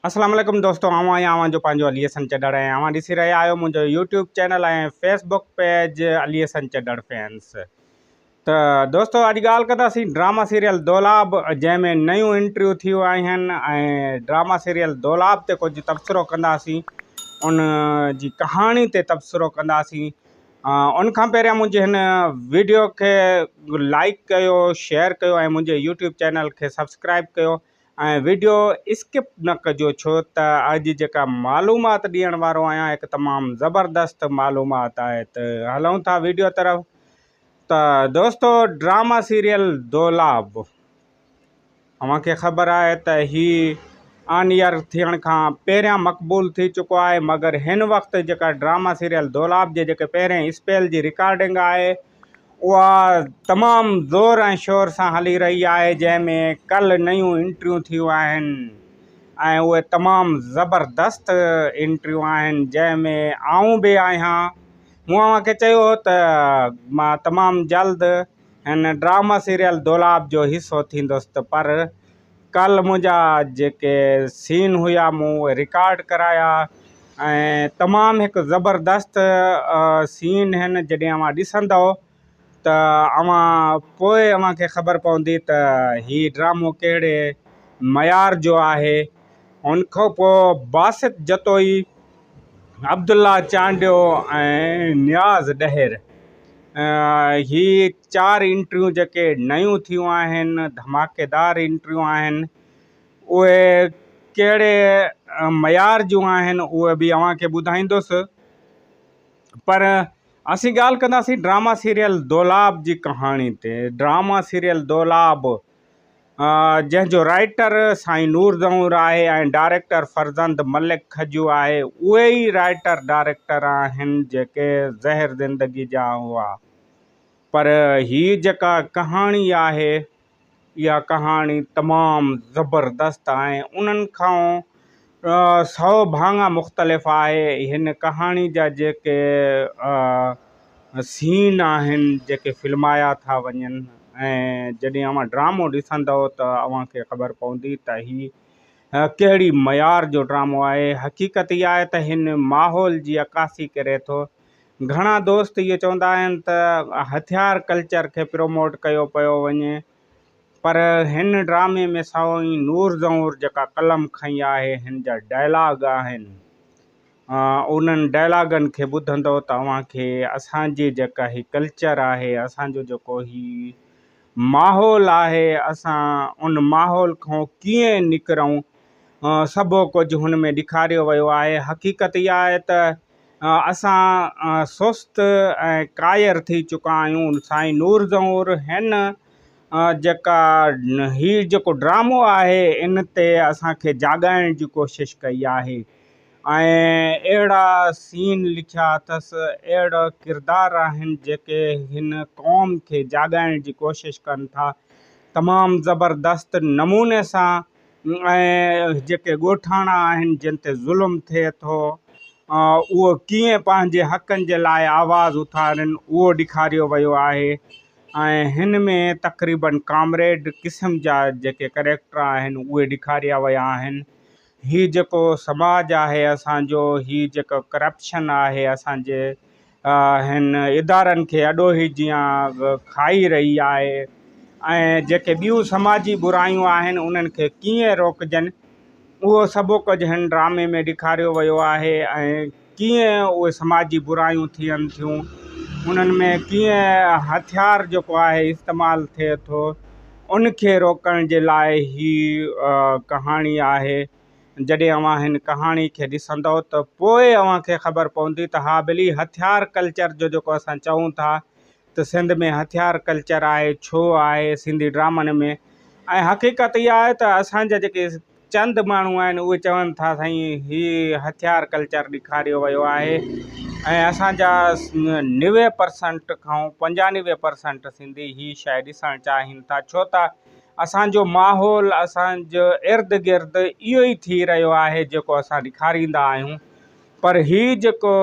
اسلام عليڪم دوستو آئون آهيان اوهان جو پنهنجو علي حسن چڏڙ ۽ اوهان ڏسي رهيا آهيو منهنجو YouTube channel ۽ Facebook page Ali Hasan Chadhar fans ته دوستو اڄ ڳالهه ڪنداسين ڊراما سيريل دولاب جنهن ۾ نيون انٽريو ٿيون آهن ۽ ڊراما سيريل دولاب تي ڪجهه تبصرو ڪنداسين ان جي ڪهاڻي تي تبصرو ڪنداسين ان کان پهريان منهنجي هن ويڊيو کي لائڪ ڪيو شيئر ڪيو ۽ منهنجي يوٽيوب چينل کي سبسڪرائب ڪيو ۽ وڊيو اسڪپ نه ڪجو ڇو ته اڄ جيڪا معلومات ڏيڻ وارو آهيان هڪ تمام زبردست معلومات آهي ته هلون ٿا وڊيو طرف ته دوستو ڊراما سيريل دولاب اوهان کي خبر آهي ته هي آن ايئر ٿيڻ کان پهريان مقبول ٿي چڪو آهي مگر هن وقت جيڪا ڊراما سيريل دولاب جي جيڪي پهرين اسپيل جي رڪارڊنگ آهي اها تمام زور ۽ شور سان هلي رهي آهي جنهن ۾ ڪل نيون انٽريون ٿيون آهن ۽ اهي تمام زبردست انٽريون آهن جنهن ۾ آئون به آهيان مون اوهان کي چيو هو ته مان تمام جلد هن ڊرامه سيريل دولاب جو حصو ٿيندس ته پر ڪالهه منهنجا جيڪي سين هيا مون اهي رڪارڊ ڪرايا ۽ تمام هڪ زبردست سين هن جڏهن اوهان ڏسندؤ ته اوهان پوء اوهان کي خبر پوندي ته هي ڊرامو ڪهڙي معيار جو آهي ان کان پوء باسط جتوئي عبدالله چانڊيو ۽ نياز ڏهر هي چار انٽريون جيڪي نيون ٿيون آهن ڌماڪيدار انٽريون آهن اهي ڪهڙي معيار جون آهن اهي به اوهان کي ٻڌائيندس پر اسين ڳالهه ڪنداسين ڊراما سيريل دولاب جي ڪهاڻي تي ڊراما سيريل دولاب جنهن جو رائٽر سائين نور دنور آهي ۽ ڊائريڪٽر فرزند ملڪ کجو آهي. اهي ئي رائٽر ڊائريڪٽر آهن جيڪي زهر زندگي جا هئا. پر هي جيڪا ڪهاڻي آهي اها ڪهاڻي تمام زبردست ۽ انهن کان سؤ ڀاڱا مختلف آهي. هن ڪهاڻي جا جيڪي سين آهن جيڪي فلمايا ٿا وڃن ۽ جڏهن اوهان ڊرامو ڏسندؤ ته اوهان کي خبر پوندي ته هي ڪهڙي معيار جو ڊرامو آهي. حقيقت اها آهي ته هن ماحول جي عڪاسي ڪري ٿو. گهڻا دوست اهو چوندا آهن ته هٿيار ڪلچر کي پروموٽ ڪيو پيو وڃي. پر هن ڊرامي ۾ سائين نور زئور جيڪا قلم کنئي آهي هن جا ڊائلاگ آهن انهن ڊائلاگن کي ٻڌندؤ ته اوهان کي اسان جي جيڪا هي ڪلچر آهي اسان جو جيڪو هي ماحول آهي اسان ان ماحول کان ڪيئن نڪرون سڀو ڪجهه هن ۾ ڏيکاريو ويو آهي حقيقت اها آهي ته اسان سست ۽ ڪاير ٿي چڪا آهيون سائين نور زهور هن جيڪا هي جيڪو ڊرامو آهي ان تي اسانکي جاڳائڻ جي ڪوشش ڪئي آهي ۽ اهڙا سين لکيا اٿس اهڙا ڪردار آهن جيڪي هن قوم کي جاڳائڻ جي ڪوشش ڪن ٿا تمام زبردست نموني سان ۽ جيڪي ڳوٺاڻا آهن جن تي ظلم ٿئي ٿو اهو ڪيئن پنهنجي حقن جي لاء آواز اٿارين اهو ڏيکاريو ويو آهي ۽ هن ۾ تقريبن ڪامريڊ قسم جا جيڪي ڪريڪٽر آهن اهي ڏيکاريا ويا آهن هي جيڪو سماج آهي اسان جو هي جيڪو ڪرپشن آهي اسان جي هن ادارن کي اڏوهي جيان کائي رهي آهي ۽ جيڪي ٻيون سماجي برايون آهن انهن کي ڪيئن روڪجن اهو سڀ ڪجهه هن ڊرامي ۾ ڏيکاريو ويو آهي ۽ ڪيئن اهي سماجي برايون ٿين ٿيون انهن ۾ ڪيئن هٿيار جيڪو آهي استعمال ٿئي ٿو ان کي روڪڻ جي لاء هي ڪهاڻي آهي جڏهن اوهان هن ڪهاڻي کي ڏسندئو ته پوء اوهان کي خبر پوندي ته ها ٻلي هٿيار ڪلچر جو جيڪو اسان چئون ٿا ته سنڌ ۾ هٿيار ڪلچر آهي ڇو آهي سنڌي ڊرامن ۾ ۽ حقيقت اها آهي ته اسان جا جيڪي چند ماڻهو آهن اهي چون ٿا سائين هي هٿيار ڪلچر ڏيکاريو ويو آهي ۽ اسان جا نوي پرسنٽ کان پنجانوي پرسنٽ سنڌي هي شايد ڏسڻ چاهين ٿا ڇو ته اسان جو ماحول اسان جو ارد گرد اهو ئي ٿي رهيو آهي جيڪو اسان ڏيکاريندا آهيون پر هي جيڪو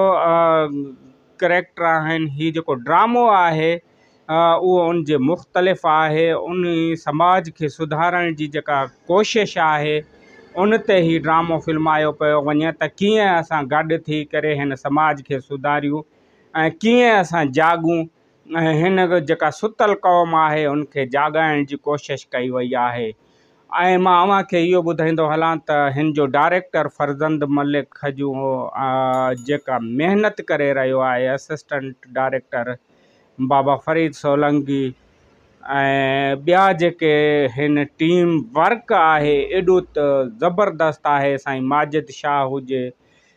ڪريڪٽر آهن هي جيڪو ڊرامو آهي اهو ان جي مختلف آهي ان سماج کي سڌارڻ جي جيڪا ڪوشش آهي ان تي هي ڊرامو فلمايو پيو وڃي ته ڪيئن اسان گڏ ٿي ڪري هن سماج کي سڌاريون ۽ ڪيئن اسان جاڳون ۽ هن جيڪا ستل قوم آهي ان کي جاڳائڻ جي ڪوشش ڪئي وئي آهي ۽ مان اوهان کي اهو ٻڌائيندو هلان ته هن جو ڊائريڪٽر فرزند ملڪ کجو جيڪا محنت ڪري رهيو آهي اسسٽنٽ ڊائريڪٽر بابا فريد سولنگي ۽ ٻيا جيڪي هن ٽيم ورڪ آهي ايڏو ته زبردست آهي سائين ماجد شاهه هجي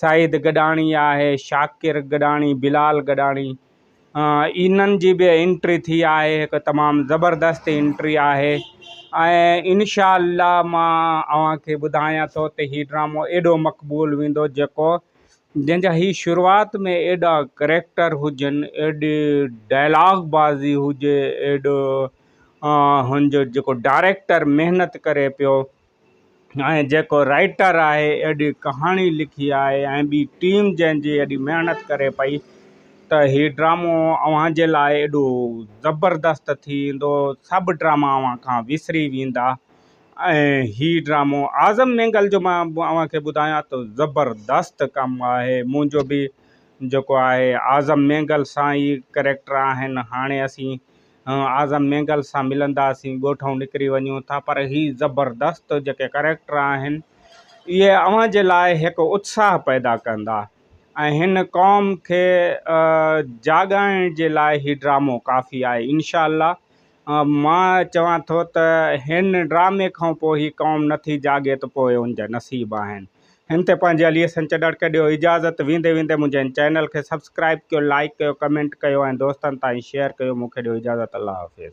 سعيد گڏاڻي آهي، شاڪر گڏاڻي، بلال گڏاڻي انهن جي به انٽري ٿي آهي هڪ تمام زبردست انٽري آهي ۽ انشاء الله مان اوهان کي ٻڌايان ٿو ته هي ڊرامو ايڏو مقبول ويندو جيڪو جنهن جا هي شروعات ۾ ايڏا ڪريڪٽر هجن ايڏي ڊائلاگ بازي هجي ايڏو هن جو جيڪو ڊائريڪٽر محنت ڪري پيو ۽ جيڪو رائيٽر آهي ايڏي ڪهاڻي لکي آهي ۽ ٻي ٽيم جنهن جي ايڏي محنت ڪري پئي ته هي ڊرامو اوهان جي لاء ايڏو زبردست ٿي ايندو سڀ ڊراما اوهان کان وسري ويندا ۽ هي ڊرامو اعظم مينگل جو مان اوهان کي ٻڌايان ته زبردست ڪم آهي منهنجو به جيڪو آهي اعظم مينگل سان ئي ڪريڪٽر آهن هاڻي اسين اعظم مينگل سان ملنداسين ڳوٺ ائون نڪري وڃون ٿا پر هي زبردست جيڪي ڪريڪٽر آهن اهي اوهان جي لاء هڪ اتساهه پيدا ڪندا ۽ هن قوم کي جاڳائڻ جي لاء هي ڊرامو ڪافي آهي انشاء الله مان چوان ٿو ته هن ڊرامي کان پوء هي قوم نٿي جاڳي ته پوء ان جا نصيب آهن هن تي پنهنجي علي حسن چڏڙڪي ڏيو اجازت ويندي ويندي منهنجي هن چينل کي سبسڪرائب ڪيو لائيڪ ڪيو ڪمينٽ ڪيو ۽ دوستن تائين شيئر ڪيو مونکي ڏيو اجازت الله حافظ.